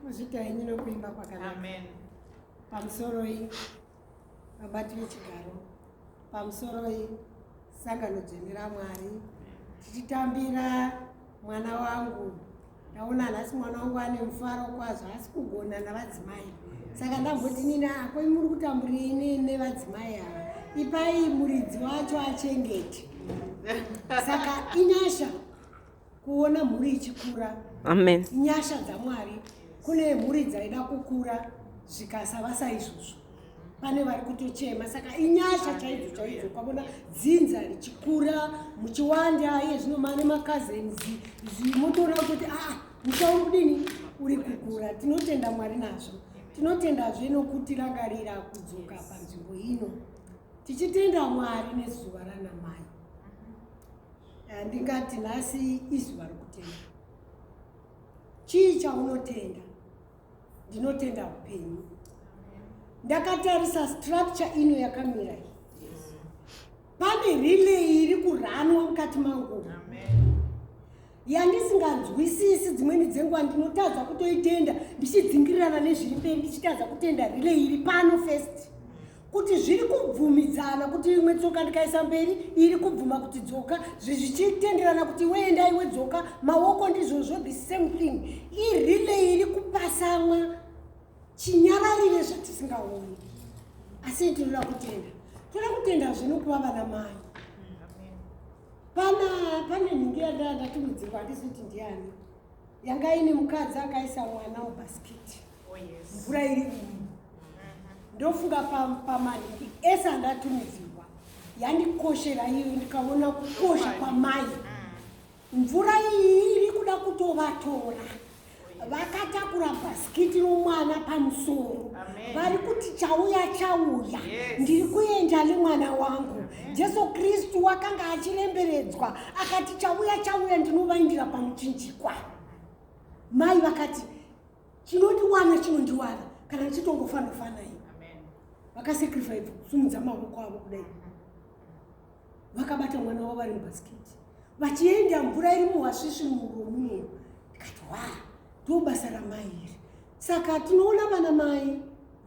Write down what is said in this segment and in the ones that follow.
Muzita yenyu nokuimba kwakanaka. Amen. Pamusoroi vabati vechigaro, pamusoroi sangano dzvene raMwari, tichitambira mwana wangu. Ndaona nhasi mwana wangu ane mufaro kwazvo, asi kugona navadzimai. Saka ndamboti nini ako muri kutamburirei ne- nevadzimai ava? Ipai muridzi wacho achengete. Saka inyasha kuona mhuri ichikura amen nyasha dzamwari kune mhuri dzaida kukura zvikasava saizvozvo pane vari kutochema saka inyasha chaidzo chaidzo ukavona dzinza richikura muchiwanda iye zvino mane macousins motoona kuti aa ah, musha uri kudini uri kukura tinotenda mwari nazvo tinotendazve nokutirangarira kudzoka panzvimbo ino tichitenda mwari nezuva ranamai Handingati nhasi izuva rokutenda. Chii chaunotenda? Ndinotenda upenyu. Ndakatarisa structure ino yakamira iyi. Pane relay iri kuranwa mukati mangu. Yandisinganzwisisi dzimweni dzenguva ndinotadza kutoitenda ndichidzingirirana nezviri mberi ndichitadza kutenda relay iri pano first. kuti zviri kubvumidzana kuti imwe tsoka ndikaisa mberi iri kubvuma kuti dzoka zvichitenderana kuti iwe enda iwe dzoka maoko ndizvozvo the same thing irile iri kupasamwa chinyararire zvatisingaoni asi tinoda kutenda tinoda kutenda zvinokuva vana mai pana pane nhingi yandandatimudzirwa handisi kuti ndiani yanga ine mukadzi akaisa mwana mubhasikiti oh, mvura iri umu mm-hmm. ndofunga pamaniki ese andatumidzirwa yandikoshera iyo ndikaona kukosha kwamai mm. mvura iyi iri kuda kutovatora vakatakura bhasikiti romwana pamusoro vari kuti chauya chauya ndiri kuenda nemwana wangu jesu kristu wakanga achiremberedzwa akati chauya chauya ndinovaindira pamuchinjikwa mai vakati chinondiwana chinondiwana kana ndichitongofandofanai vakasacrifice kusumudza maoko avo kudai vakabata mwana wavo vari mubhasikiti vachienda mvura iri muhasvishi mumuro muno ndikati wa ndo basa ramai iri saka tinoona vana mai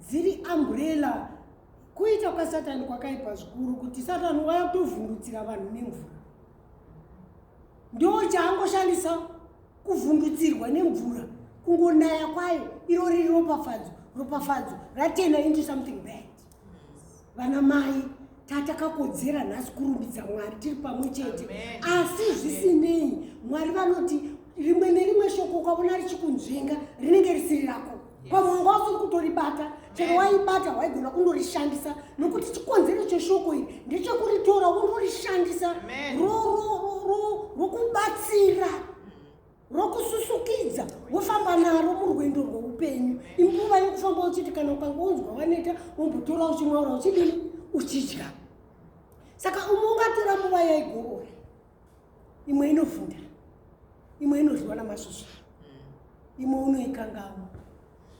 dziri ambrella kuita kwasatani kwakaipa zvikuru kuti satani waya kutovhundutsira vanhu nemvura ndo chaangoshandisa kuvhundutsirwa nemvura kungonaya kwayo iro riri ropafadzo ropafadzo ratena into something bad vana mai tatakakodzera nhasi kurumbidza mwari tiri pamwe chete asi zvisinei mwari vanoti rimwe nerimwe shoko ukavona richikunzvenga rinenge risiri rako pamwe wanga wasiri kutoribata chero waibata waigona kundorishandisa nokuti chikonzero cheshoko iri ndechekuritora wondorishandisa rokubatsira rokususukidza wofamba naro murwendo rweupenyu inguva yekufamba uchiti kana ukange unzwa waneta wombotora uchimwaura uchidini uchidya saka umwe ungatora nguva yaigorora imwe inovhunda imwe inodyiwa namasvosva mm. imwe unoikangawo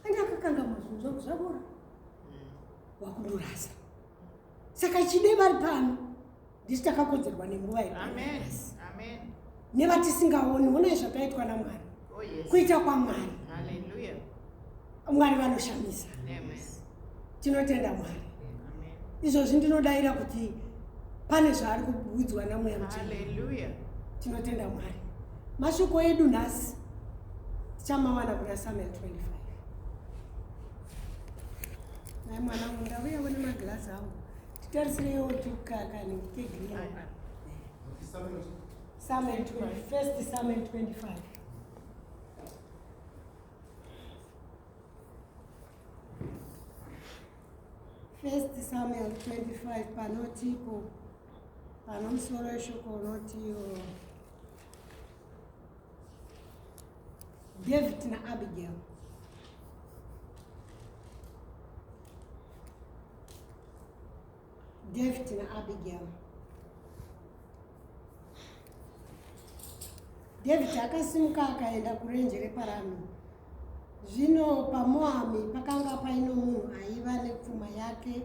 ane akakanga mazunza kuzavora mm. wakundorasa saka chide vari pano ndisi takakodzerwa nenguva iyo nevatisingaoni onai zvakaitwa namwari oh, kuita kwamwari mwari vanoshamisa tinotenda mwari izvozvi ndinodaira kuti pane zvaari kuudzwa namweya muchinhaleluya tinotenda mwari mashoko edu nhasi tichamawana kuna samuel 25 nai mwana wangu ndauya one magirasi angu titarisirewo tukakani kegreen samuel 25 first samuel 25 First Samuel 25 panotipo panomusoro weshoko unotiyo David na Abigail David na Abigail. David akasimuka akaenda kurenje reparami. Zvino paMoami pakanga paino munhu aiva nepfuma yake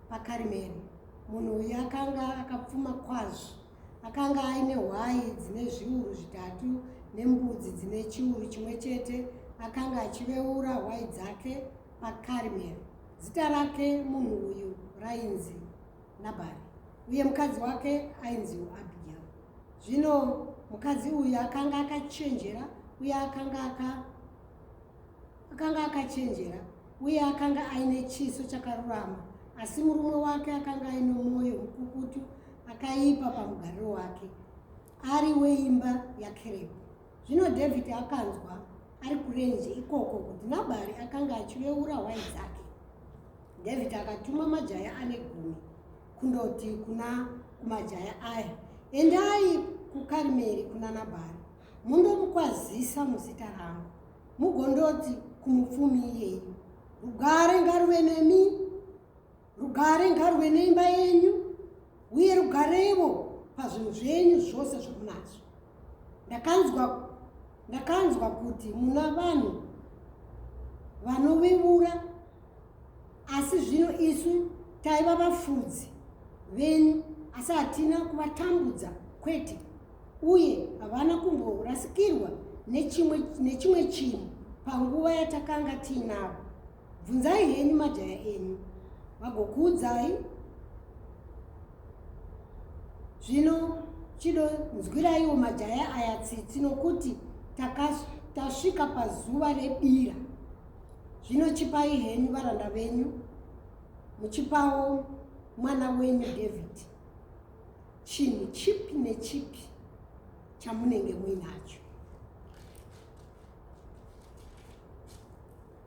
paKarimeri. Munhu uyu akanga akapfuma kwazvo. Akanga aine hwai dzine zviuru zvitatu nembudzi dzine chiuru chimwe chete. Akanga achiveura hwai dzake paKarimeri. Zita rake munhu uyu rainzi Nabhari, uye mukadzi wake ainziwo Abhigero. Zvino mukadzi uyu akanga akachenjera uye akanga aka akanga akachenjera uye akanga aine chiso chakarurama, asi murume wake akanga aine mwoyo mukukutu akaipa pamugariro wake. ari weimba yakerebi zvino dhavhidhi akanzwa ari kurenje ikoko kuti nabhari akanga achiveura hwai dzake dhavhidhi akatuma majaya ane gumi kundoti kuna kumajaya aya endai kukarimeri kuna nabhari mundomukwazisa muzita rangu mugondoti kumupfumi iyeyi rugare ngaruve nemi Rugare ngaruve neimba yenyu uye rugarevo pazvinhu zvenyu zvose zvomunazvo. Ndakanzwa ndakanzwa kuti muna vanhu vanovivura asi zvino isu taiva vafudzi venyu asi hatina kuvatambudza kwete uye havana kumborasikirwa nechimwe chinhu panguva yatakanga tiinavo bvunzai henyu majaya enyu vagokuudzai zvino chido nzwiraiwo majaya aya tsitsi nokuti tasvika pazuva rebira zvino chipai henyu varanda venyu muchipawo mwana wenyu david chinhu chipi nechipi chamunenge muinacho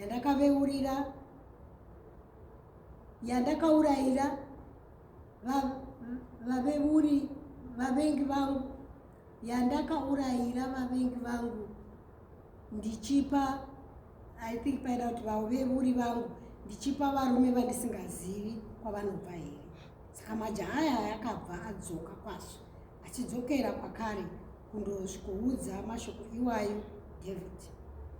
yandakaveurira yandakaurayira vaveuri vavengi vangu yandakaurayira vavengi vangu ndichipa i think paida kuti vaveuri vangu ndichipa varume vandisingazivi kwavanobva here saka majaha aya akabva adzoka kwaso Achidzokera kwakare kundosvikoudza mashoko iwayo Dhavhidhi,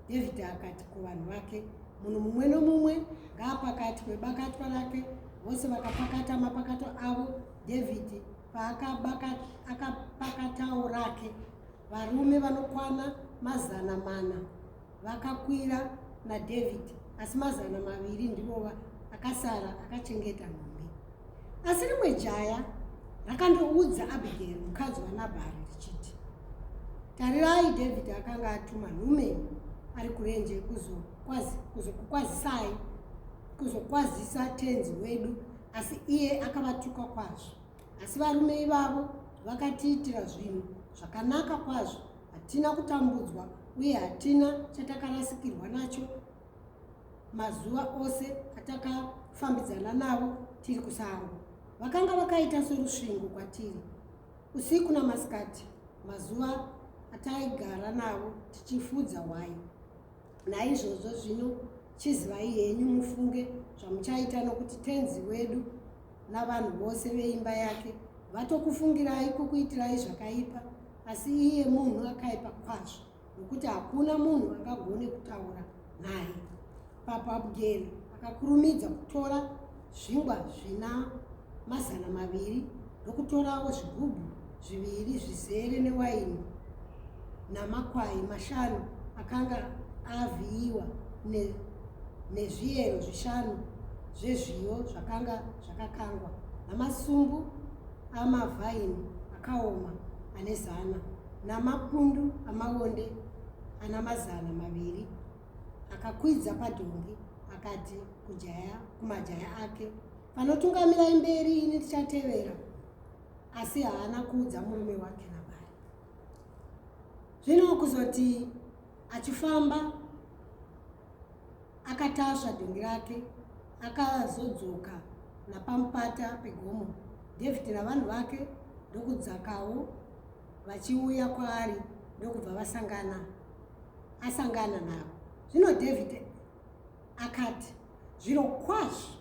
Dhavhidhi akati kuvanhu vake, Munhu mumwe nomumwe ngaapakatwe bakatwa rake. Vose vakapakata mapakato avo, Dhavhidhi paakapakatawo rake, varume vanokwana mazana mana. vakakwira naDhavhidhi, asi mazana maviri ndivo akasara akachengeta nhumbi. Asi rimwe jaya rakandoudza Abhigeri mukadzi waNabhari richiti, Tarirai, Dhavhidhi akanga atuma nhume ari kurenje kuzokukwazisai, kuzokwazisa tenzi wedu, asi iye akavatuka kwazvo. Asi varume ivavo vakatiitira zvinhu zvakanaka kwazvo, hatina kutambudzwa uye hatina chatakarasikirwa nacho mazuva ose atakafambidzana navo tiri kusango. Vakanga vakaita sorusvingo kwatiri usiku namasikati mazuva ataigara navo tichifudza hwai. Naizvozvo zvino chizivai henyu mufunge zvamuchaita nokuti tenzi wedu navanhu vose veimba yake vatokufungirai kukuitirai zvakaipa asi iye munhu akaipa kwazvo nokuti hakuna munhu angagone kutaura naye papo abugeri akakurumidza kutora zvingwa zvina mazana maviri ndokutorawo zvigubhu zviviri zvizere newaini namakwai mashanu akanga avhiyiwa nezviyero zvishanu zvezviyo zvakanga zvakakangwa namasumbu amavhaini akaoma ane zana namapundu amaonde ana mazana maviri akakwidza padhongi akati kujaya kumajaya ake panotungamirai mberi ini ndichatevera asi haana kuudza murume wake nabari zvino kuzoti achifamba akatasva dhongi rake akazodzoka napamupata pegomo david navanhu vake ndokudzakawo vachiuya kwaari ndokubva vasangana asangana navo zvino david akati zviro kwazvo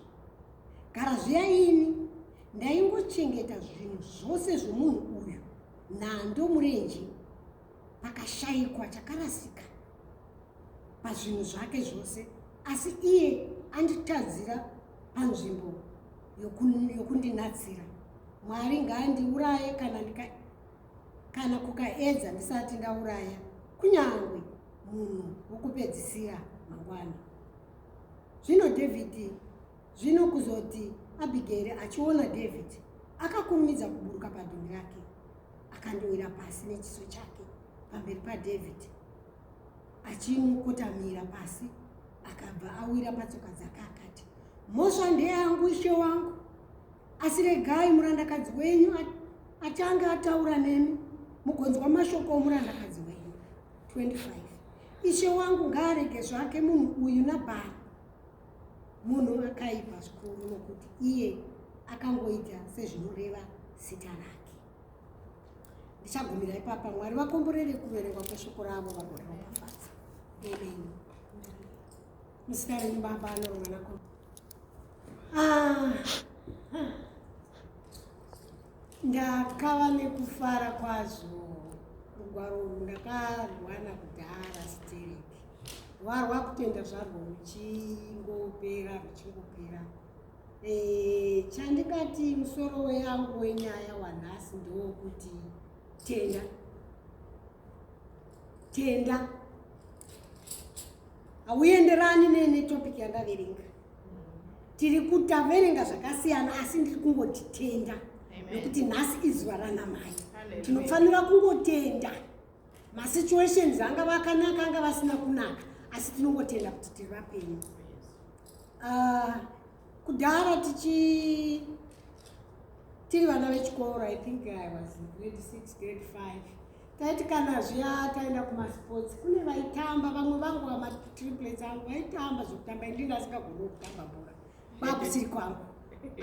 gara zviya ini ndaingochengeta zvinhu zvose zvomunhu uyu nhando murenje pakashayikwa chakarasika pazvinhu zvake zvose asi iye anditadzira panzvimbo yokundinatsira mwari ngaandiuraye kana ndika kana kukaedza ndisati ndauraya kunyange munhu wokupedzisira mangwana zvino dhavhidhi zvino kuzoti abhigeri achiona dhavhidhi akakurumidza kuburuka padhumbi rake akandowira pasi nechiso chake pamberi padhavhidhi achimukotamira pasi akabva awira patsoka dzake akati mhosva ndeyangu ishe wangu asi regai murandakadzi wenyu atange ataura nemi mugonzwa mashoko omurandakadzi wenyu 25 ishe wangu ngaarege zvake munhu uyu nabhari munhu akaipa zvikuru nokuti iye akangoita sezvinoreva zita rake ndichagumira ipapa mwari vakomborere kuverengwa kweshoko ravo vagoreoafaza amen Musikana nebaba anorwa nako. Ah. Ndakava nekufara kwazvo rugwaro urwu ndakarwana kudhara sterek rwarwa kutenda zvarwo ruchingopera ruchingopera eh, chandikati musoro weyangu wenyaya wanhasi ndowokuti tenda tenda hauenderani netopic yandaverenga tiri kutaverenga zvakasiyana asi ndiri kungotitenda nekuti nhasi izuva ranamai tinofanira kungotenda masituations anga vakanaka anga vasina kunaka asi tinongotenda kuti tiri vapenyu ah, kudhara tichi tiri vana vechikoro i think i was grade six grade five taiti kana zviya taenda kumasports kune vaitamba vamwe vangu vamatriplets angu vaitamba zvekutamba indi ndasingagoni kutamba bhora kwakusiri kwangu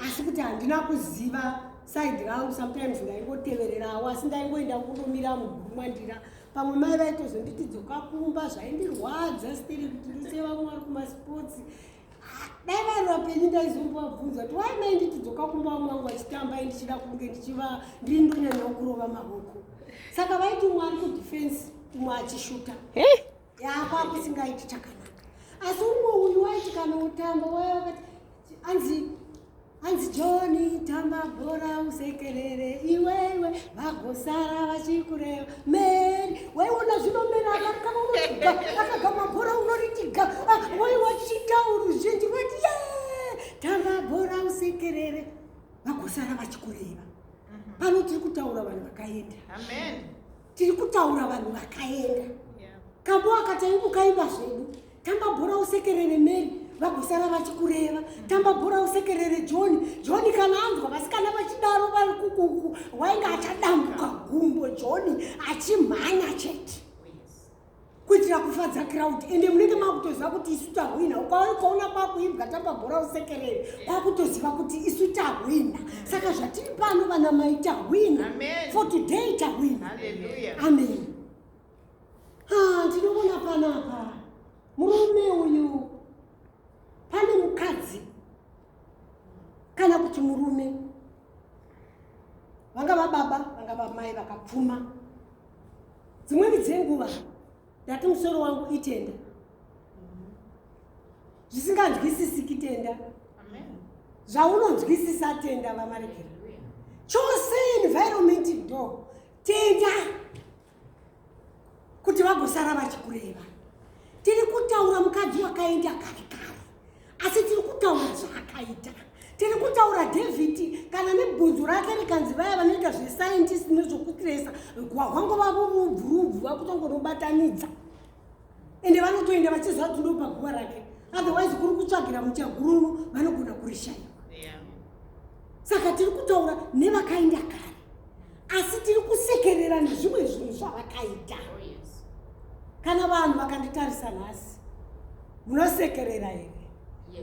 asi kuti handina kuziva side rangu sometimes ndaingotevererawo asi ndaingoenda kunomira muguru mwandira pamwe mai vaitozonditi dzoka kumba zvaindirwadza stiri kuti ndisevamwe vari kumasports dai vanhu vapenyu ndaizongowabvunza kuti wai mai nditidzoka kumba vamwe vangu vachitamba i ndichida kunge ndichiva ndiri ndonyanya kurova mavoko saka vaiti umwe ari kudefense umwe achishuta yako akusingaiti chakanaka asi umwe uyu waiti kana utamba waya wakati anzi hanzi joni tamba bhora usekerere iwewe vagosara vachikureva meri waiona zvinomera akagama bhora unoritiga ah, waiwachita uruzhinji vati ye tamba bhora usekerere vagosara vachikureva mhm. pano tiri kutaura vanhu vakaenda tiri kutaura vanhu vakaenda kambo akataimbokaimba zvedu tamba bhora usekerere mary vagosara vachikureva tamba bhora usekerere john john kana anzwa vasikana vachidaro vari kukuku wainge achadambuka gumbo john achimhanya chete kuitira kufadza crowd ende munenge makutoziva kuti isu tahwina ukaona kwakuimbwa tamba bhora usekerere kwakutoziva kuti isu tahwina saka zvatiri pano vana mai tahwina for today tahwina amen ah, ndinoona panapa murume uyu pane mukadzi kana kuti murume vanga vababa vanga vamai vakapfuma dzimweni dzenguva ndati musoro wangu itenda zvisinganzwisisiki tenda zvaunonzwisisa tenda vamaregera chose environment do tenda kuti vagosara vachikureva tiri kutaura mukadzi wakaenda kare kare asi tiri kutaura zvaakaita tiri kutaura david kana nebhunzu rake rikanzi vaya vanoita zvescientist nezvokutresa gwahwangu vavo vubvurubvu vakutongonobatanidza ende vanotoenda vachiziva kuti ndopaguva rake otherwise kuri kutsvagira muchagururu vanogona kurishaiwa saka tiri kutaura nevakaenda kare asi tiri kusekerera nezvimwe zvinhu zvavakaita oh, kana vanhu vakanditarisa nhasi munosekerera here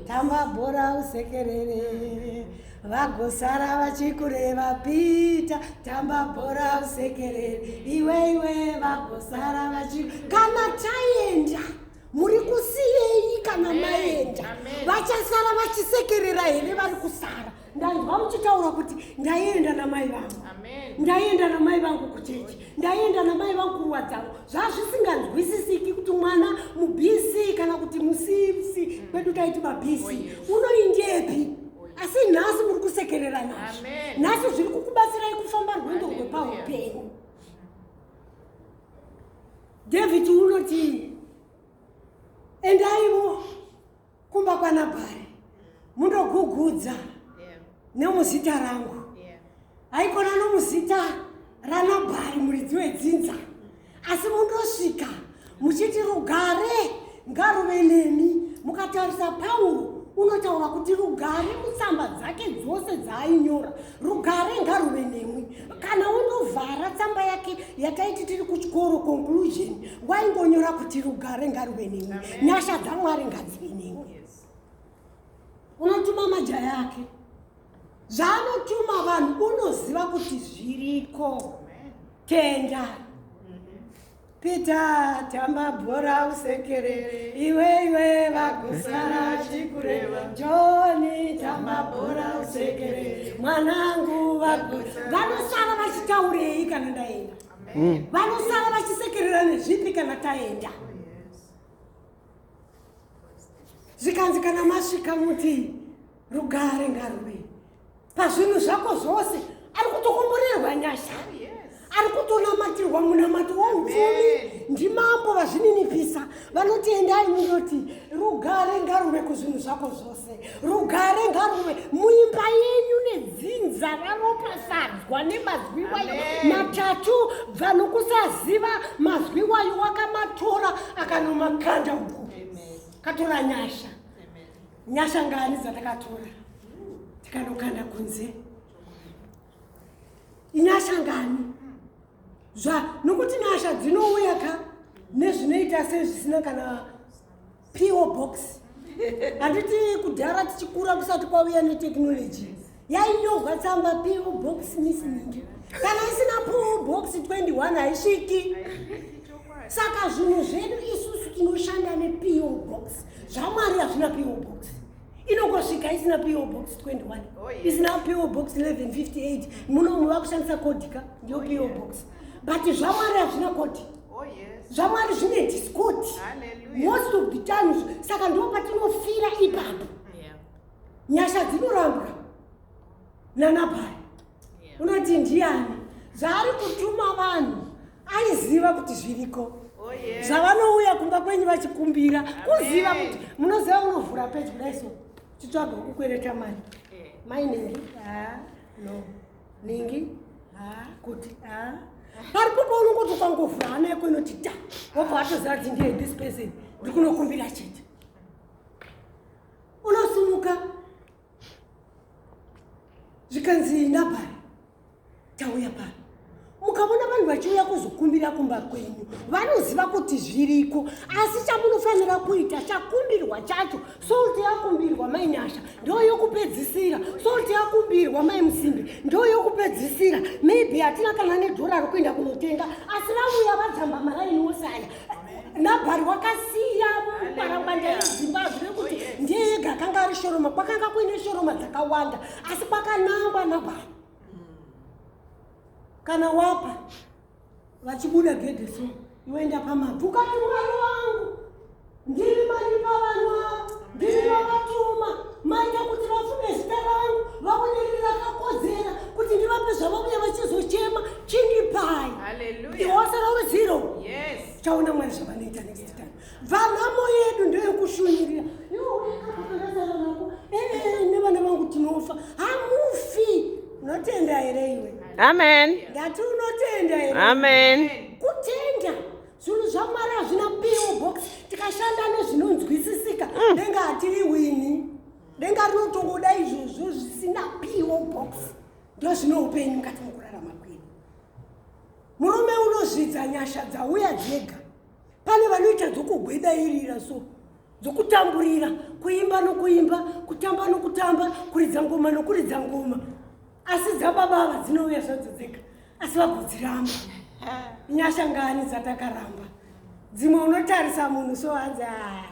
tamba bhora usekerere vagosara vachikureva pita tamba bhora usekerere iwe iwe vagosara vachi kana taenda muri kusiyei kana maenda vachasara vachisekerera here vari kusara ndanzwa muchitaura kuti ndaienda namai vangu ndaienda namai vangu kuchechi ndaienda namai vangu kuruwa dzavo zvazvisinganzwisisiki kuti mwana mubisi kana kuti musisi mm. kwedu taiti mabisi oh, unoindepi asi nhasi muri kusekerera nazvo nhasi zviri kukubatsirai kufamba rwendo rwepaupenyu david unotii endaivo kumba kwanabhari mundogugudza nemuzita rangu haikona nomuzita ranabhari muridzi wedzinza asi mundosvika muchiti rugare ngaruve nemi mukatarisa pauro unotaura kuti rugare mutsamba dzake dzose dzaainyora rugare ngaruve nemwi kana wondovhara tsamba yake yataiti tiri kuchikoro conclusion waingonyora kuti rugare ngaruve nemwi nyasha dzamwari ngadzive nemwi unotuma majaya ake zvaanotuma vanhu unoziva kuti zviriko tenda Pita tamba bhora usekere iwe iwe vakusara chikureva Joni tamba bhora usekere mwanangu vanosara vachitaurei kana ndaenda mm. vanosara vachisekerera nezvipi kana taenda zvikanzi kana masvika muti rugare ngaruve pazvinhu zvako zvose ari kutokomborerwa nyasha ari kutonamatirwa munamato waupfumi ndimambo vazvininipisa vanoti endai munoti rugare ngaruve kuzvinhu zvako zvose rugare ngaruve muimba yenyu nedzinza raropasadzwa nemazwi wayo matatu vanhu kusaziva mazwi wayo wakamatora akanomakanda uku katora nyasha nyasha ngani dzatakatora tikanokanda kunze inyasha ngani zva nokuti nyasha dzinouya ka nezvinoita sezvisina kana po box handiti kudhara tichikura kusati kwauya neteknoloji yainyorwa tsamba po box missing kana isina po box 21 haisviki saka zvinhu zvedu isusu tinoshanda nepo box zvamwari hazvina po box inongosvika isina po box 21 isina po box 1158 munomu vakushandisa kodika ndiyo po box but zvamwari hazvina kodi oh, zvamwari zvine discoti most of the times saka ndopatino nyasha dzinorambwa nanabhari unoti ndiani zvaari kutuma vanhu aiziva kuti zviriko oh, zvavanouya kumba kwenyu vachikumbira kuziva kuti munoziva unovhura pedyo daiso chitsvaga kukwereta mari eh. maineri ah, no ningi ah, kuti ah. pari popa unongoti ukangovhura hana yako inoti ta wobva atoziva kuti ndiye this person ndiri kunokumbira chete unosimuka zvikanzi nabhari tauya pano mukavona vanhu vachiuya kuzokumbira kumba kwenyu vanoziva kuti zviriko asi chamunofanira kuita chakumbirwa chacho solti yakumbirwa mai nyasha ndo yokupedzisira solti yakumbirwa mai musimbi ndo yokupedzisira maybe hatina kana nedhora rokuenda kunotenga asi vauya vajamba maraini wose aya nabhari wakasiya parangwanda yedzimba hazvive kuti oh, ndiye yega akanga ari shoroma kwakanga kuine shoroma dzakawanda asi kwakanangwa nabhari kana wapa vachibuda gedhe so iwoenda pamabvi ukati mwari wangu ndiri mari pavanwa ndiri vavatuma maita kuti vafume zita rangu vaoneri rakakodzera kuti ndivape zvavavuya vachizochema chindipai ndiwose rove zero chaona mwari zvavanoita next time vanhamo yedu ndeyokushunirira nevana vangu tinofa hamufi unotenda here iwe amen ndati unotenda here amen kutenda zvinhu zvamwari hazvina piwo box tikashanda nezvinonzwisisika mm. denga hatiri wini denga rinotongoda izvozvo zvisina piwo box ndozvine upenyu mukati mokurarama kwedu murume unozvidza nyasha dzauya dzega pane vanoita dzokugwedairira so dzokutamburira kuimba nokuimba kutamba nokutamba kuridza ngoma nokuridza ngoma asi dzababa ava dzinouya zvadzo dzega asi vagodziramba nyasha ngani dzatakaramba dzimwe unotarisa munhu so hanzi haa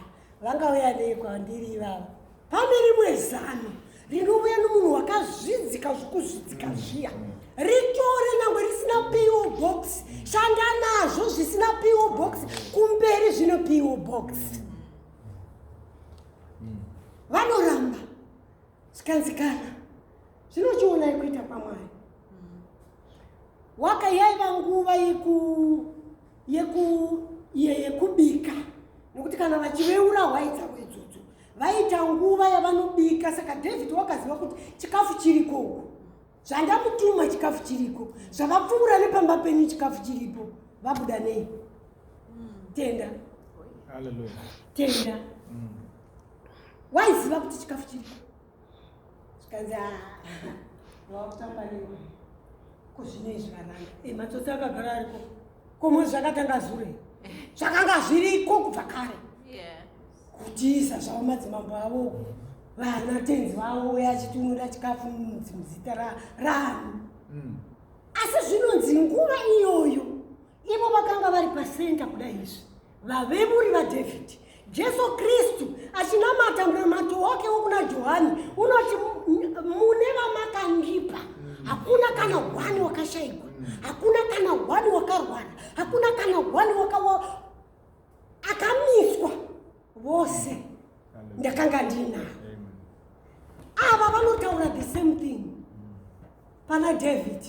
vangauya nei kwandiri ivava Pane rimwe zano rinouya nomunhu wakazvidzika zvokuzvidzika mm. zviya ritore nyangwe risina po box shanda nazvo zvisina po box kumberi zvino po box mm. vanoramba zvikanzikana zvinochionai kuita kwamwari waka yaiva nguva yeku yeku yekubika nekuti kana vachiveura hwaidza vaita nguva yavanobika saka david wakaziva kuti chikafu chiriko uku zvandamutuma chikafu chiriko zvakapfuura nepamba penyu chikafu chiripo vabuda nei tenda tenda mm. waiziva kuti chikafu chiriko zvikanzi ah, wakutamba newe kuzvinei zvikaranga eh, matsotsi akagara ariko komo zvakatanga zure zvakanga zviriko kubva kare kutiisa zvavo madzimambo avo vana tenzi vavo uye achitunura chikafu muzita rani mm. asi zvinonzi nguva iyoyo ivo vakanga vari pasenta kudai izvi vavemuri vadavid jesu kristu achinamata munamato wake wokuna johani unoti mune vamakandipa mm. hakuna kana hwani wakashayikwa mm. hakuna kana hwani wakarwara hakuna kana hwani akamiswa vose ndakanga ndinavo ava vanotaura the same thing pana david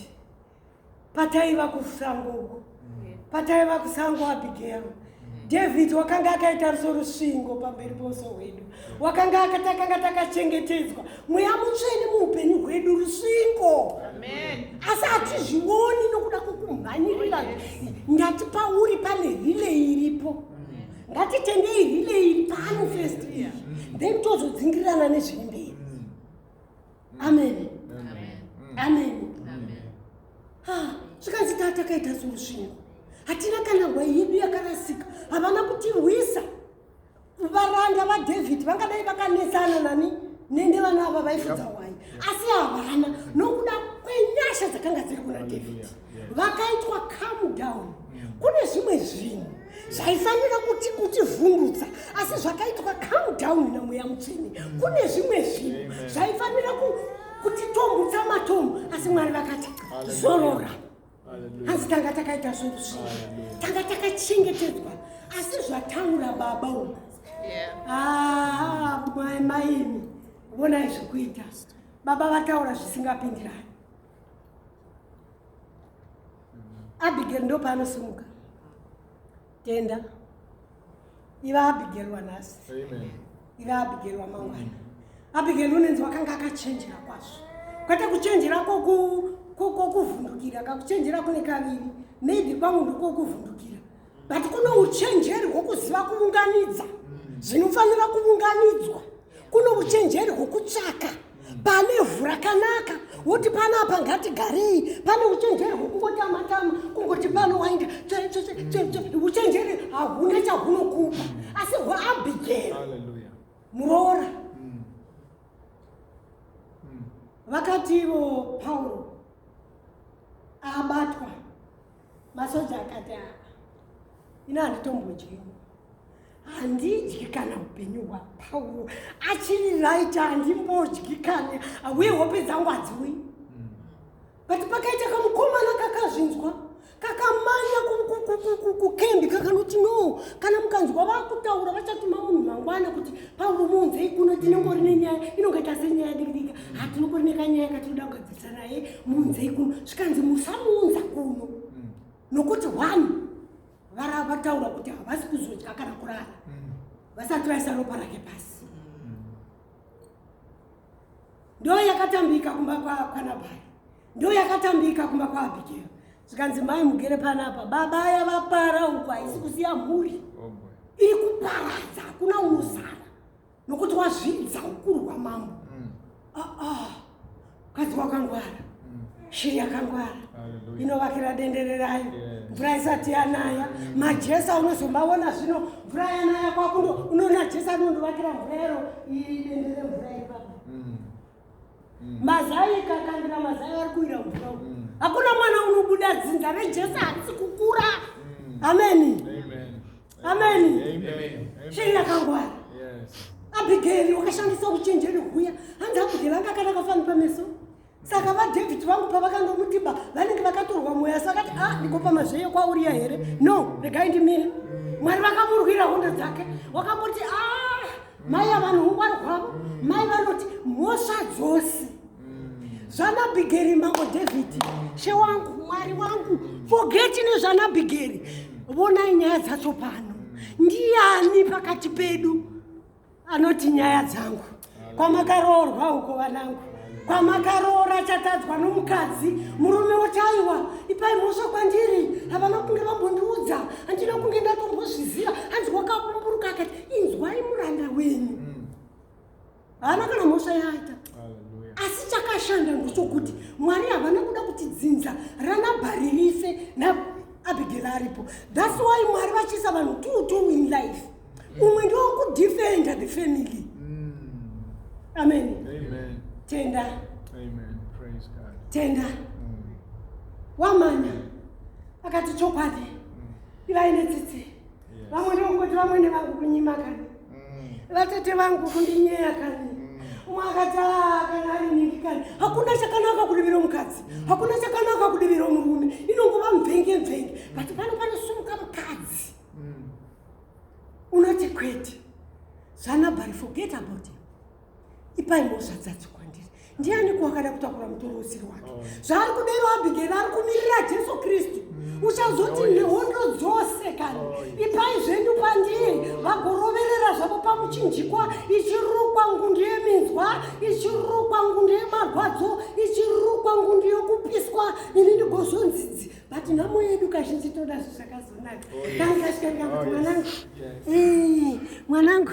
pataiva kusango uko pataiva kusango abigero david wakanga akaita ruso rusvingo pamberi pouso hwedu wakanga akatakanga takachengetedzwa mweya mutsvene muupenyu hwedu rusvingo asi hatizvioni nokuda kwekumhanyirira ngati pauri pane rile iripo ngatitendei rile iri pano first iri then tozodzingirirana nezviri mberi amen amen zvikanzi taa takaita sorusvingo hatina kana hwa yedu yakarasika havana kutirwisa varanda vadhavhidhi vangadai vakanetsana nani nende vana ava vaifudza hwai asi havana nokuda kwenyasha dzakanga dziri kuna dhavhidhi vakaitwa come down mm. kune zvimwe zvinhu zvaifanira kuti kutivhundutsa asi zvakaitwa come down namweya mutsvene mm. kune zvimwe zvinhu zvaifanira kutitombutsa matombo asi mwari vakati zorora hanzi tanga takaita zvinhu zvii tanga takachengetedzwa asi zvataura baba uku maimi vonai zvekuita baba vataura zvisingapindirani abigail ndopaanosimuka tenda iva abigeri wanhasi iva abigeri wamangwana abigeri unenzi wakanga akachenjera kwazvo kwete kuchenjera kokuvhundukira kakuchenjera kune kaviri maybe kwangu ndokokuvhundukira but kuno uchenjeri hwokuziva kuunganidza zvinofanira kuunganidzwa kuno uchenjeri hwokutsvaka pane vhu rakanaka woti pano apa ngatigarei pane uchenjeri hwekungotama-tama kungoti pano wainda uchenjeri hahuna chahunokupa asi hwaabhigeri muroora mm. Mm. vakati ivo pauro abatwa masoja akati aa ah, ina handitombodyi handidyi kana upenyu hwapauro achiri right handimbodyi kana auye hope dzangu hadziwi hmm. but pakaita kamukomana kakazvinzwa kakamanya kukembi kakanoti no kana mukanzwa vakutaura vachatuma munhu mangwana kuti pauro muunzei kuno tinongori nenyaya inongaita senyaya dikidika hatinokorine kanyaya katinoda kugadzirisa naye muunzei kuno zvikanzi musamuunza kuno mm. nokuti one vara vataura kuti havasi kuzodya kana kurara mm. vasati vaisa ropa rake pasi mm. ndo yakatambika kumba kwanabhai ndo yakatambika kumba kwaabhigero zvikanzi mai mugere panapa baba aya vapara uku haisi kusiya mhuri oh, iri kuparadza hakuna unosara nokuti wazvidza ukuru hwamambo mm. ah, ah. mukadzi ah, wakangwara mm. shiri yakangwara inovakira dendere rayo mvura isati yanaya mm. majesa unozomaona zvino mvura yanaya kwakundo unoona jesa anondovakira mvura yaro iri dendere mvura ipapa mm. mm. mazai kakandira mazai ari kuira kudya mm. hakuna mwana unobuda dzinza rejesu harisi kukura mm. ameni ameni shei rakangwara abhigeri wakashandisa uchenjeri huya hanzi abhigeri vanga akanaka fani pameso saka vadavid vangu pavakanga mutiba vanenge vakatorwa mweya sakati a ah, ndikopa mazveye kwauriya here no regai ndimire mwari vakamurwira hondo dzake wakamboti a ah, mai avanhu hungwari hwavo mm. mai vanoti mhosva dzose mm. zvanabhigeri mambo dhavhidhi mm. she wangu mwari wangu fogeti nezvanabhigeri vonai nyaya dzacho pano ndiani pakati pedu anoti nyaya dzangu kwamakaroorwa uko vanangu kwamakaroora chatadzwa nomukadzi murume wotaiwa ipai mhosva kwandiri havana kunge vambondiudza handina kunge ndatombozviziva hanzi wakabumburuka akati inzwai muranda wenyu mm. haana kana mhosva yaaita asi chakashanda ndochokuti mwari havana kuda kuti dzinza ranabhari rife naabigeli aripo thats why mwari vachiisa vanhu two two in life mm. umwe ndiwo kudefenda the family mm. amen tenda tenda wamanya akati chokwadi ivai netsitsi vamwe ndokungoti vamwene vangu kunyima kani mm. vatete vangu kundinyeya kani mm. umwe akati ah, kana ari nhingi kani hakuna chakanaka kudivira mukadzi mm. hakuna chakanaka kudivira murume inongova mvenge mvenge but pano panosumuka mukadzi unoti kwete zvanabari forget about him ipai mhosva dzacho kwandiri ndiani kuwakada kutakura mutoro usiri wake oh. zvaari kudero abhigeri ari kumirira jesu kristu mm. uchazoti oh, nehondo dzose kana oh, ipai zvenyu pandiri vagoroverera zvavo pamuchinjikwa ichirukwa ngundu yeminzwa ichirukwa ngundu yemarwadzo ichirukwa ngundu yokupiswa ini ndigozonzidzi but nhamo yedu kazhinji toda zvi zvakazonaka kangikasvikaika kuti mwanangu mwanangu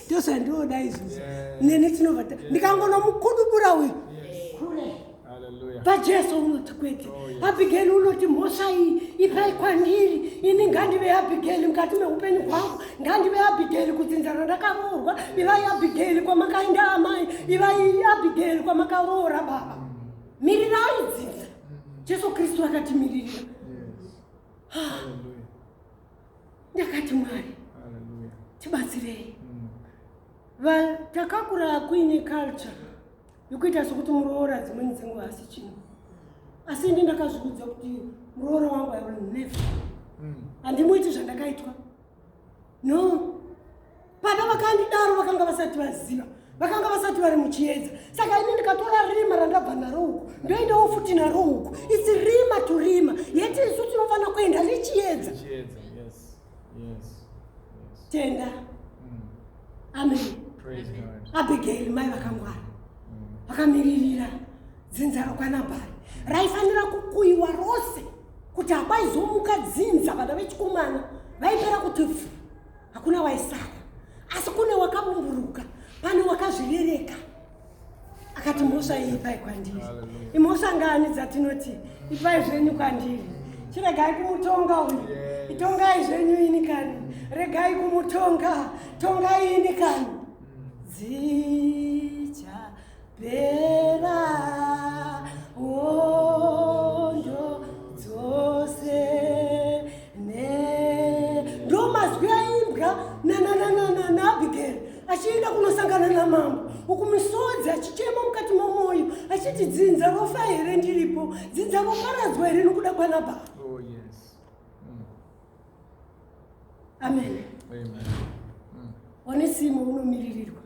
ndozvandioda izvozvo neni tinova ndikangonomukudubura uyu kule pajesu unoti kwete oh, abhigeli unoti mhosva iyi ipai kwandiri ini ngandive abhigeli mukati meupenyu hwangu ngandive abhigeli kudzinzana ndakaroorwa ivai abhigeli kwamakainda amai ivai abhigeli kwamakaroora baba mirirai dzinza jesu kristu akatimiririra ndakati mwari tibatsirei mm. takakura kuine culture yokuita sokuti muroora dzimweni dzenguva asi chinhu asi ini ndakazviudza kuti muroora wangu i will never mm. handimuiti zvandakaitwa no baba vakandidaro vakanga vasati vaziva vakanga vasati vari muchiedza saka ini ndikatora rima randabva naro uku ndoendawo futi naro uku its rima to rima yeti isu tinofanira kuenda richiedza tenda mm. amen abigail mai vakangwara mm. vakamiririra dzinza rokwanabhari raifanira kukuyiwa rose kuti hakwaizomuka dzinza vana vechikomana vaipera kuti pfu hakuna waisara asi kune wakabumburuka pane wakazvirereka akati mhosva iyi ipai kwandiri imhosva ngani dzatinoti ipai zvenyu kwandiri chiregai kumutonga uyu itongai zvenyu ini kani regai kumutonga tongai ini kani dzicha achienda kunosangana namambo uku misodzi achichema mukati momwoyo achiti dzinza rofa here ndiripo dzinza roparadzwa here nokuda kwana baba oh, mm. amen one simo unomiririrwa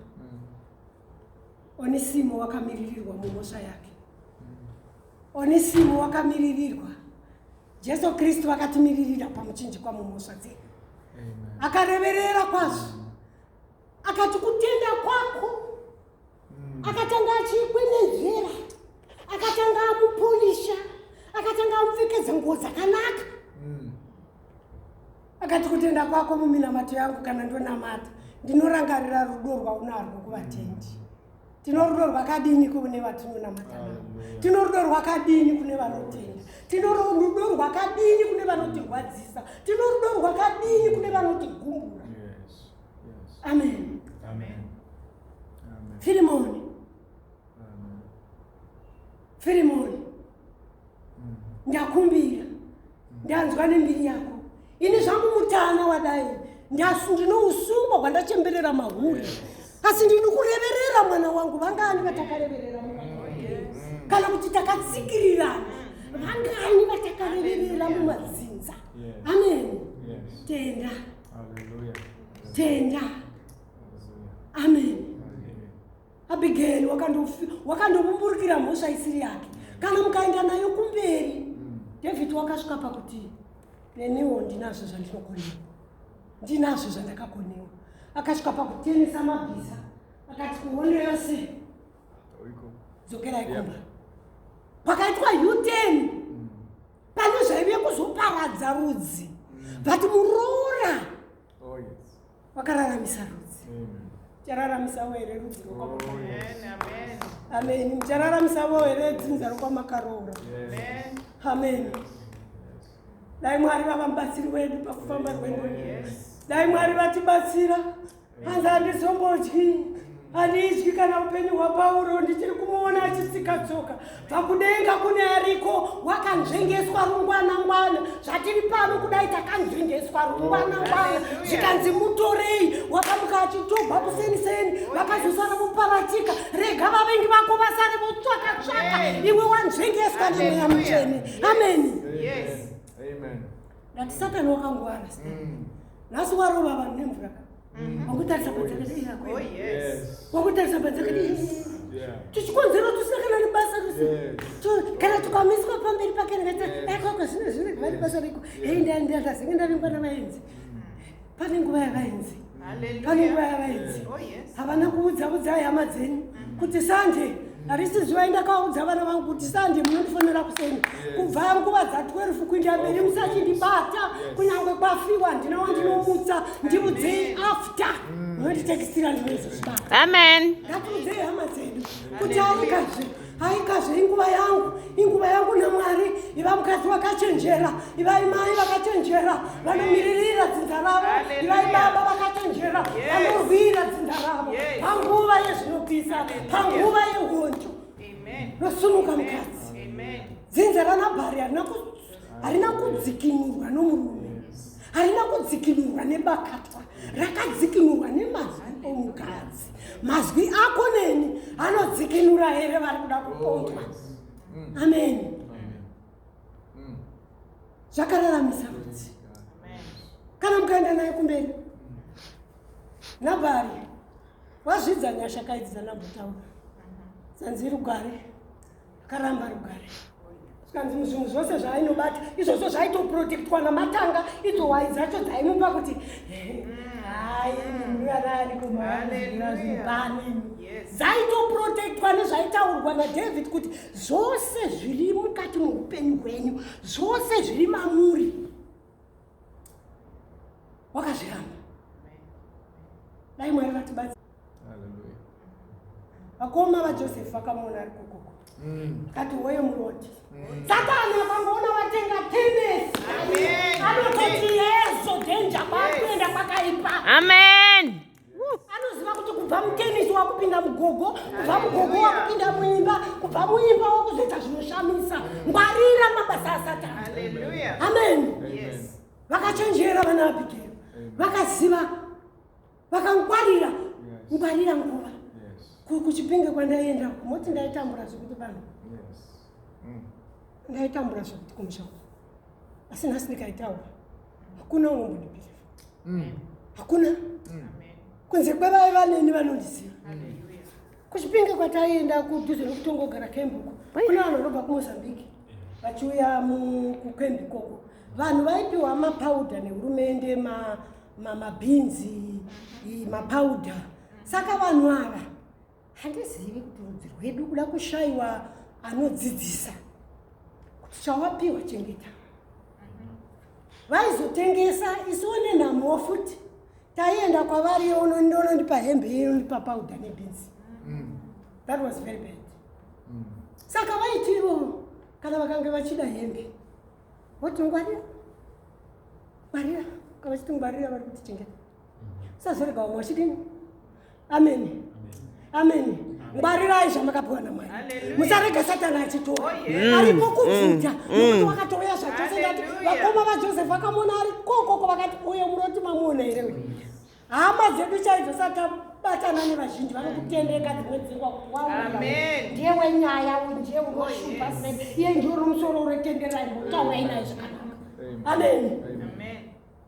Onisimo wakamiririrwa mumhosva yake. Onisimo wakamiririrwa. Jesu Kristu vakatimiririra pamuchinjikwa mumhosva dzedu. Akareverera kwazvo. Akati kutenda kwako. Mm. Akatanga achikwenenzvera. Akatanga amupolisha. Akatanga amupfekedza nguo dzakanaka. Mm. akati kutenda kwako muminamato yangu kana ndonamata ndinorangarira rudo rwaunarwo kuvatendi tino rudo rwakadini kune vatinonamata navo tino rudo rwakadini kune vanotenda tino rudo rwakadini kune vanotirwadzisa tino rudo rwakadini kune vanotigumbura amen firimoni firimoni ndakumbira ndanzwa nembiri yako ini zvangu mutana wadai ndine usungwa hwandachemberera mahuri asi ndini kureverera mwana wangu vangani vatakareverera kana kuti takatsikirirana vangani vatakareverera mumadzinza amen tenda tenda amen abigail wakandovumburukira mhosva isiri yake kana mukaenda nayo kumberi mm. david wakasvika pakuti neniwo ndinazvo zvandinokonewa ndinazvo zvandakakonewa akasvika pakutenesa mabhiza akati kuhondo yose dzokera ikomba pakaitwa uten mm. pane zvaive kuzoparadza rudzi mm. but muroora wakararamisa rudzi chararamisa were rudzi amen muchararamisa were dzinza rokwamakaroora amen dai mwari vava mubatsiri wedu pakufamba kwedu dai mwari vatibatsira hanzi handizombodyi handidyi kana upenyu hwapauro ndichiri kumuona achitsika tsoka pakudenga kune ariko wakanzvengeswa rungwanangwana zvatiri pano kudai takanzvengeswa rungwanangwana zvikanzi mutorei wakamuka achitogwa kuseni seni vakazosara muparatika rega vavengi vako vasare votsvaka tsvaka iwe wanzvengeswa nemweya mutsvene ameni nati satani wakangwara mm. nhasi warova vanhu nemvura ka wakutarisa padzakawakutarisa padzakadii tichikonzera tusina kana nebasa rese kana tukamiswa pamberi pake ndikatiakoko eh, zvino zvino vane basa riko hei ndazenge ndavingwa navaenzi pane nguva yavaenzi pane nguva yavaenzi oh, havana kuudza udzai hama dzenyu mm. kuti sanje harisi zuva indakaudza vana vangu kuti sande munondifonera kuseni kubva nguva dza 12 kuinda mberi musachindibata kunyange kwafiwa ndina wandinomutsa ndiudzei after mm. munonditekisira ndinoizozvibata amen ngatiudzei hama dzedu kuti aikazve aikazve inguva yangu inguva yangu namwari iva mukadzi vakachenjera ivai mai vakachenjera vanomiririra dzinza ravo ivai baba vakachenjera vanorwira dzinza ravo panguva yezvinopisa panguva yehonjo nosunuka mukadzi dzinza ranabhari harina kudzikinurwa nomurume harina kudzikinurwa nebakatwa rakadzikinurwa nemazwi omukadzi mazwi ako neni anodzikinura here vari kuda kupondwa mm. amen mm. zvakararamisa rudzi kana mukaenda naye kumberi nabari wazvidza nyasha kaidzi dzanambotaura zanzi rugare karamba rugare zvikanzi muzvinhu zvose zvaainobata izvozvo zvaitoprotektwa namatanga idzo hwai dzacho dzaimupa kuti hai muruarani kumaanezvinopani dzaitoprotektwa nezvaitaurwa nadavid kuti zvose zviri mukati moupenyu hwenyu zvose zviri mamuri wakazviramba dai mwari vatibatsira vakoma vajosefu vakamuona ari kokoko mm. kati woye muroti mm. satani akamboona vatenga tenesi anototi yezo dhenja kwakuenda kwakaipa amen anoziva kuti kubva mutenisi wakupinda mugogo kubva mugogo wakupinda muimba kubva muimba wakuzoita zvinoshamisa ngwarira mabasa asatana amen vakachenjera vana abigero vakaziva vakangwarira ngwarira nguva kuchipinge kwandaienda moti ndaitambura zvekuti vanhu mm. ndaitambura zvekuti kumusha asi nhasi ndikaitaura hakuna unongonipira mm. hakuna mm. kunze kwevai vaneni vanondiziva kuchipinge kwataienda kudhuze nekutongogara kembuko kune vanhu vanobva kumozambique vachiuya kukembi koko vanhu vaipiwa mapauda nehurumende mabhinzi mapauda saka vanhu ava handizivi kuti rudzi rwedu kuda kushaiwa anodzidzisa kuti chawapiwa chengeta vaizotengesa isu one nhamuwo futi taienda kwavari onondonondipa hembe inondipa pauda nebhinzi mm. that was very bad mm. saka vaiti ivo kana vakange vachida hembe voti ngwarira ngwarira kavachiti ngwarira vari kuti chengeta sazorega vamwe vachidini ameni ameni ngwarirai zvamakapiwa namwari musarega satani achitora oh, mm. ariko kubvuta mm. mm. nokuti wakatouya zvachose ndati vakoma vajosefu vakamona ari kokoko vakati uyo muroti mamuona here uyu hama dzedu chaidzo satabatana nevazhinji vanokutendeka dzimwe dzingwa kuti waona ndiye wenyaya uyu ndiye unoshupa oh, sei iye ndiwo nomusoro uretenderai mutaurainai zvakanaka ameni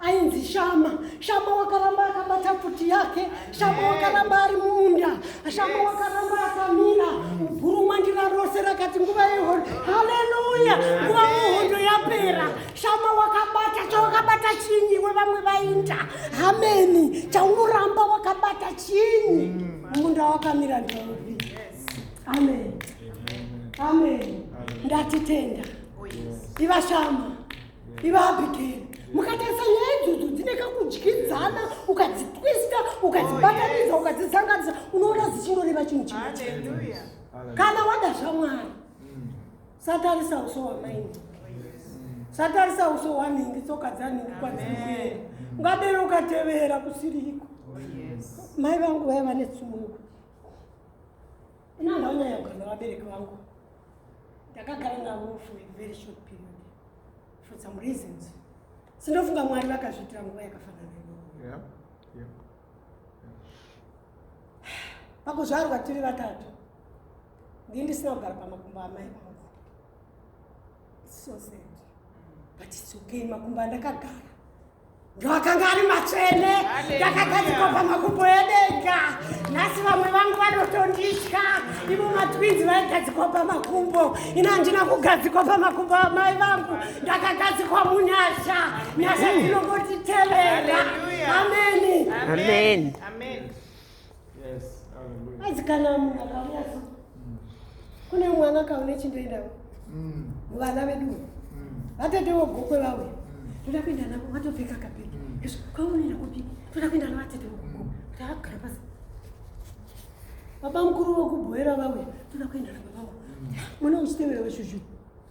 ainzi shama shama wakaramba akabata pfuti yake shama wakaramba ari munda shama wakaramba akamira guru mandira rose rakati nguva yehondo haleluya nguva muhondo yapera shama wakabata chawakabata chinyi we vamwe vainda hameni chaunoramba wakabata chinyi munda wakamira ndauvi amen amen ndatitenda oh, ivashama iva abigeri mukatarisa nyaya idzodzo dzine kakudyidzana ukadzitwista ukadzibatanidza oh, ukadzizanganisa unoona dzichingoreva chinhu chimwe kana wada zvamwari mm. satarisa uso wamaini satarisa uso wanhingi tsoka dzanhingi kwadzikuenda ungadero ukatevera kusiriko oh, mai vangu vaiva netsumungu inandaunyaya kugana vabereki vangu ndakagara navo for a very short period for some reasons sinofunga mwari vakazviitira nguva yakafanana yeah. yeah. pakuzvarwa tiri vatatu ndii ndisina kugara pamakumbo amai vangu so sad but it's okay makumbo andakagara Vakanga ari matsvene, ndakagadzikwa pamakumbo edenga. Nhasi vamwe vangu vanotonditya, ivo matwinzi vaigadzikwa pamakumbo. Ini handina kugadzikwa pamakumbo amai vangu, ndakagadzikwa munyasha. Nyasha dzinongotitevera. Ameni. Amen. Amen. asi kana munhu akauya so kune mwana akaune chindoendawo mm. vana vedu mm. vatetewo gokwe vauya mm. toda kuenda navo vatopfeka kapeki izvo kwaunoenda kupi toda kuenda navo vatetewo gokwe kuti akugara pasi baba mukuru wekubhoera vauya toda kuenda navo vavo mwana uchitevera veshuzhuu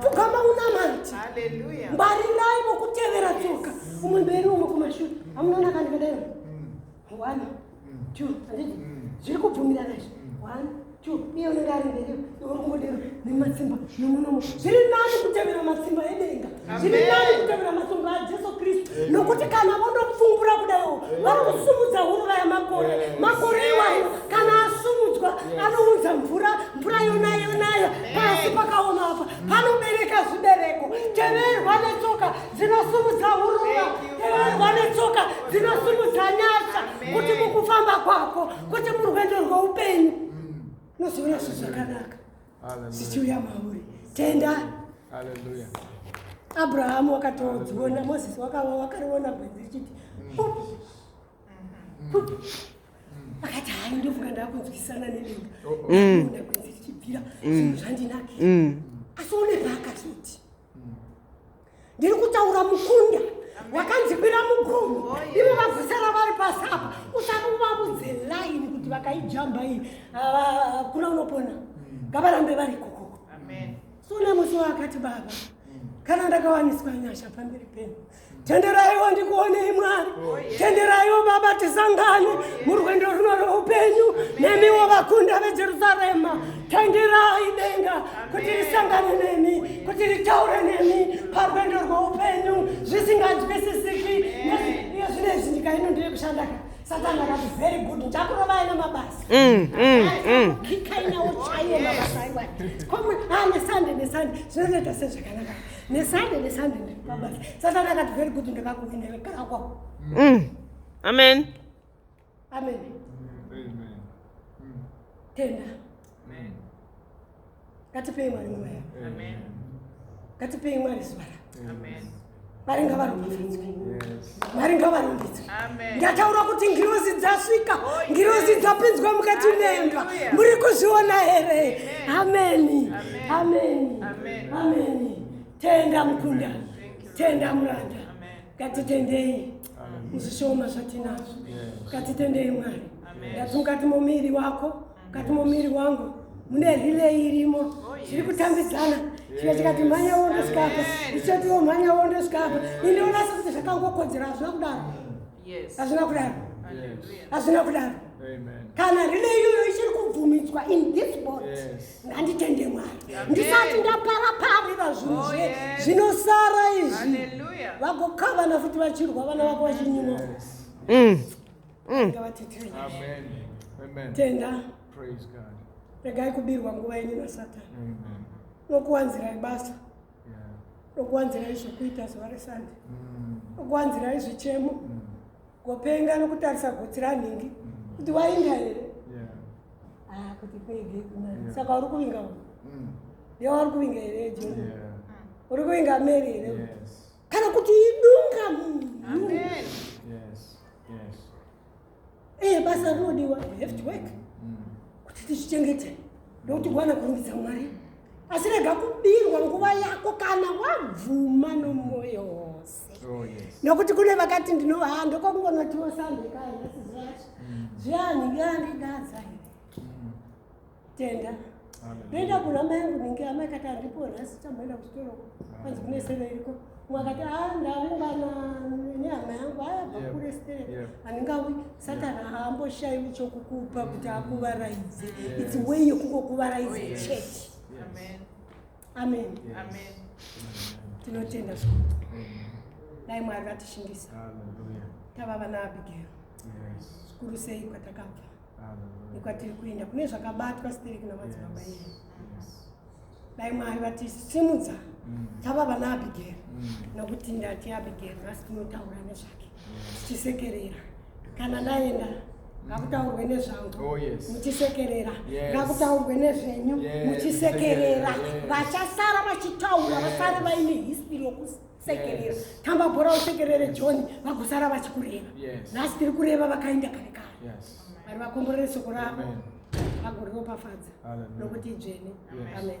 pfugama unamati ngwarirai mokutevera tsoka umwe mberi umwe kumashure amunoona kandikadai mm. one mm. two anditi mm. zviri kubvumirana izvi one two iye unenge ari mberi iwe ungodero nematsimba nemunomo zviri nani kutevera matsimba edenga zviri nani kutevera masunguro ajesu kristu nokuti kana vonopfumbura kudaiwo vari kusumudza huruva yamakore makore iwayo kana asumudzwa anounza mvura mvura yonayo nayo pasi pakaoma apa panobereka zvibereko teverwa netsoka dzinosumudza huruva teverwa netsoka dzinosumudza nyasha kuti mukufamba kwako kuti murwendo rweupenyu nozoona zvezvakanaka zvichiuya mauri tenda abrahamu wakatodziona moses wakava wakariona gwenzi richiti akati hai ndofunga ndakunzwisana nedenga oh, oh. mm. ona gwenzi richibvira mm. zvinhu zvandinake mm. asi une paakazoti ndiri kutaura mukunda wakanzikwira mugomo oh, ivo vazisara vari pasi apa usati uvavudze laini kuti vakaijamba iyi ah, kuna unopona mm. ngavarambe vari kokoko so nemusi waakati baba mm. kana ndakawaniswa nyasha pamberi penu tenderaiwo ndikuonei mwari oh, tenderaiwo baba tisangane oh, murwendo runo roupenyu nemiwo vakunda vejerusarema Tandirai denga kuti risangane nemi, kuti ritaure nemi parwendo rweupenyu zvisinganzwisisiki nezvine zvinyika ino ndiri kushanda ka satani akati very good ndakurovai nemabasa mm, mm, mm. kikainawo chaiye mabasa aiwa komwe a ah, nesande nesande zvinotoita sezvakanaka nesande nesande ndiri pabasa satani akati very good ndakakuinekaakwao amen amen tenda ngatipei mwari nguva yavo ngatipei mwari zuva ravo mwari ngavaropafadzwe mwari ngavarumbidzwe ndataura kuti ngirozi dzasvika oh, ngirozi dzapinzwa mukati memba muri kuzviona here ameni ameni ameni tenda mukunda tenda muranda ngatitendei muzvishoma zvatinazvo ngatitendei mwari ndati mukati momuviri wako mukati momuviri wangu mune rileyi irimo oh, zviri kutambidzana chika chikati mhanya wondo sikapa ichotiwo mhanya wondo sikapa indiwonasa kuti zvakangokodzera hazvina kudaro hazvina kudaro hazvina kudaro kana rileyi iyoyo ichiri kubvumidzwa in this bot nganditende mwari ndisati ndapara pari vazvinhu oh, zvinosara izvi vagokavana futi vachirwa vana vako vachinyimwa mm. mm. tenda regai kubirwa nguva yenyu nasatani nokuwanzirai basa nokuwanzirai zvokuita zuva resande mm. nokuwanzirai zvichemo mm. Kupenga nokutarisa gotsi ranhingi kuti wainga here ah, kuti pege mm. saka uri kuvinga uyu mm. ye wari kuvinga here jeni uri kuvinga meri here kana kuti idunga munhu ee basa rinodiwa heft work mm. kuti tizvichengete nokuti kuwana kurumbidza mwari asi rega kubirwa nguva yako kana wabvuma nomwoyo wose Oh, nokuti kune vakati ndinova ha ndokokungonotiwo sandekaanasizivacho mm. zviani yandidaza mm. tenda ndoenda kuna mayangu ninge amai kati andipo nhasi chamboenda kuchitoro kwanzi kune sero iriko mwakati a ah, ndavingana nehama yangu aya vakure stere handingawi satani haamboshaiwi chokukupa kuti akuvaraidze its way yokungokuvaraidze chete amen amen tinotenda zvikuru dai mwari vatishingisa tava vana abigail zvikuru sei kwatakabva nekwatiri kuenda kune zvakabatwa sitereki namadzibaba edu dai mwari vatisimudza mm. tava vana abigail mm. nokuti ndati abigail nhasi tinotaura nezvake tichisekerera kana ndaenda ngakutaurwe nezvangu oh, muchisekerera ngakutaurwe nezvenyu muchisekerera vachasara vachitaura vasare vaine history yokusekerera tamba bhora usekerere john vagosara vachikureva nhasi tiri kureva vakaenda kare kare vari vakomborere soko ravo vagoropafadza nokuti idzvene amen